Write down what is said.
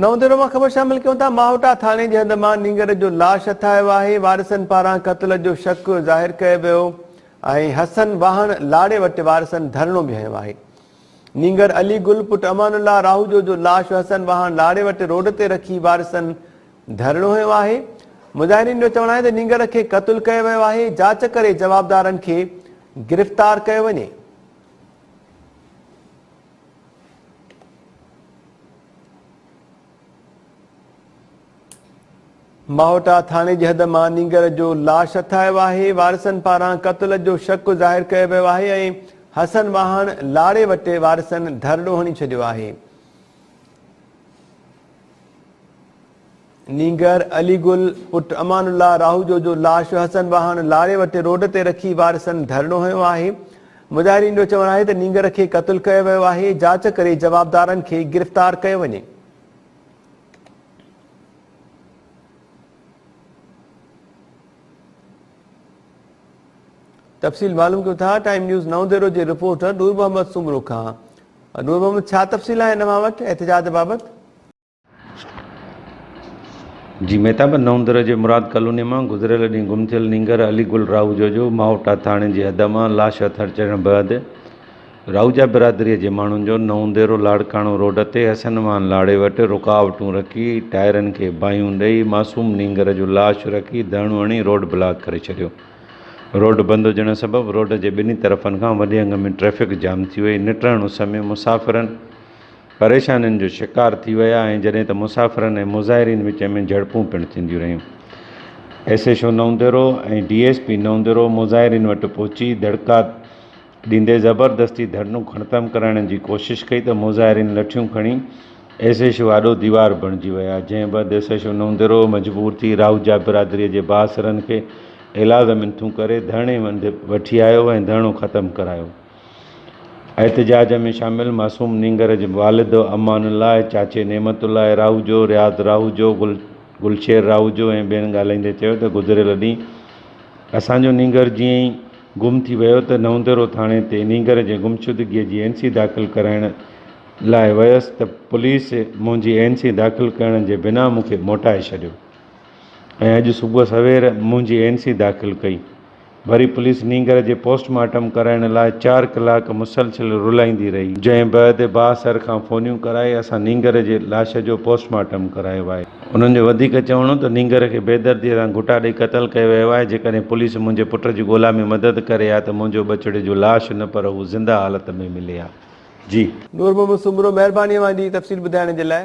نئون ديرو مان خبر شامل ڪيون ٿا ماهوٽا ٿاڻي جي هنڌ مان نينگر جو لاش هٿايو آهي وارثن پاران قتل جو شڪ ظاهر ڪيو ويو ۽ حسن واهڻ لاڙي وٽ وارثن ڌرڻو به هنيو آهي نينگر علي گل پٽ امان الله راهوجو جو لاش حسن واهڻ لاڙي وٽ روڊ تي رکي وارثن ڌرڻو هنيو آهي مظاهرين جو چوڻ آهي ته نينگر کي قتل ڪيو ويو آهي جاچ ڪري جوابدارن کي گرفتار ڪيو وڃي ماهوٽا ٿاڻي جي حد مان نينگر جو لاش هٿايو آهي وارثن پاران قتل جو شڪ ظاهر ڪيو ويو آهي ۽ حسن واهڻ لاڙي وٽي وارثن ڌرڙو هڻي ڇڏيو آهي نينگر علي گل پٽ امان الله راهوجو جو لاش حسن واهڻ لاري وٽ روڊ تي رکي وارثن ڌرڻو هنيو آهي. مظاهرين جو چوڻ آهي ته نينگر کي قتل ڪيو ويو آهي، جاچ ڪري جوابدارن کي گرفتار ڪيو وڃي. تفصيل معلوم ڪيون ٿا ٽائيم نيوز نو ديرو جي رپورٽر نور محمد سومرو کان نور محمد ڇا تفصيل آهن اوهان وٽ احتجاج بابت؟ جي مهتاب نوندر جي مراد ڪالوني مان گذريل ڏينهن گم ٿيل نينگر علي گل راهوجو جو ماهوٽا ٿاڻي جي حد مان لاش هٿ اچڻ بعد راهوجا برادري جي ماڻهن جو نونديرو لاڙڪاڻو روڊ تي حسن وان لاڙي وٽ رڪاوٽون رکي ٽائرن کي باهيون ڏئي معصوم نينگر جو لاش رکي ڌرڻو هڻي روڊ بلاڪ ڪري ڇڏيو روڊ بند هجڻ سبب روڊ جي ٻنهي طرفن کان وڏي انگ ۾ ٽريفڪ جام ٿي وئي نٽ رهڻ اس ۾ مسافرن پريشانين جو شڪار ٿي ويا ۽ جڏهن ته مسافرن ۽ مظاهرين وچ ۾ جهڙپون پڻ ٿينديون رهيون. S H O Naudero ۽ D S P Naudero مظاهرين وٽ پهچي دڙڪا ڏيندي زبردستي ڌرڻو کڻتم ڪرائڻ جي ڪوشش ڪئي ته مظاهرين لٺيون کڻي ايس ايڇ او آڏو ديوار بڻجي ويا جنهن بعد S H O Naudero مجبور ٿي راهوجا برادري جي بااثرن کي ايلاز منٿون ڪري ڌرڻي هنڌ وٺي آيو ۽ ڌرڻو ختم ڪرايو. احتجاج ۾ شامل معصوم نينگر جي والد امان الله، چاچي نعمت الله راهوجو، رياض راهوجو، گلشير راهوجو ۽ ٻين ڳالهائيندي چيو ته گذريل ڏينهن اسان جو نينگر جيئن ئي گم ٿي ويو ته نونديرو ٿاڻي تي نينگر جي گمشدگي جي اين سي داخل ڪرائڻ لاء ويس ته پوليس منهنجي اين سي داخل ڪرڻ جي بنا مون کي موٽائي ڇڏيو ۽ اڄ صبح سوير منهنجي اين سي داخل ڪئي وري پوليس نينگر جي پوسٽ مارٽم ڪرائڻ لاء چار ڪلاڪ مسلسل رلائيندي رهي، جنهن بعد باهه سر کان فونيون ڪرائي اسان نينگر جي لاش جو پوسٽ مارٽم ڪرايو آهي. انهن جو وڌيڪ چوڻ هو ته نينگر کي بيدرديء سان گهوٽا ڏئي قتل ڪيو ويو آهي، جيڪڏهن پوليس منهنجي پٽ جي ڳولا ۾ مدد ڪري ها ته منهنجو ٻچڙي جو لاش نه پر هو زنده حالت ۾ ملي ها. جي. نور محمد سومرو مهرباني اوهان جي تفصيل ٻڌائڻ جي لاء.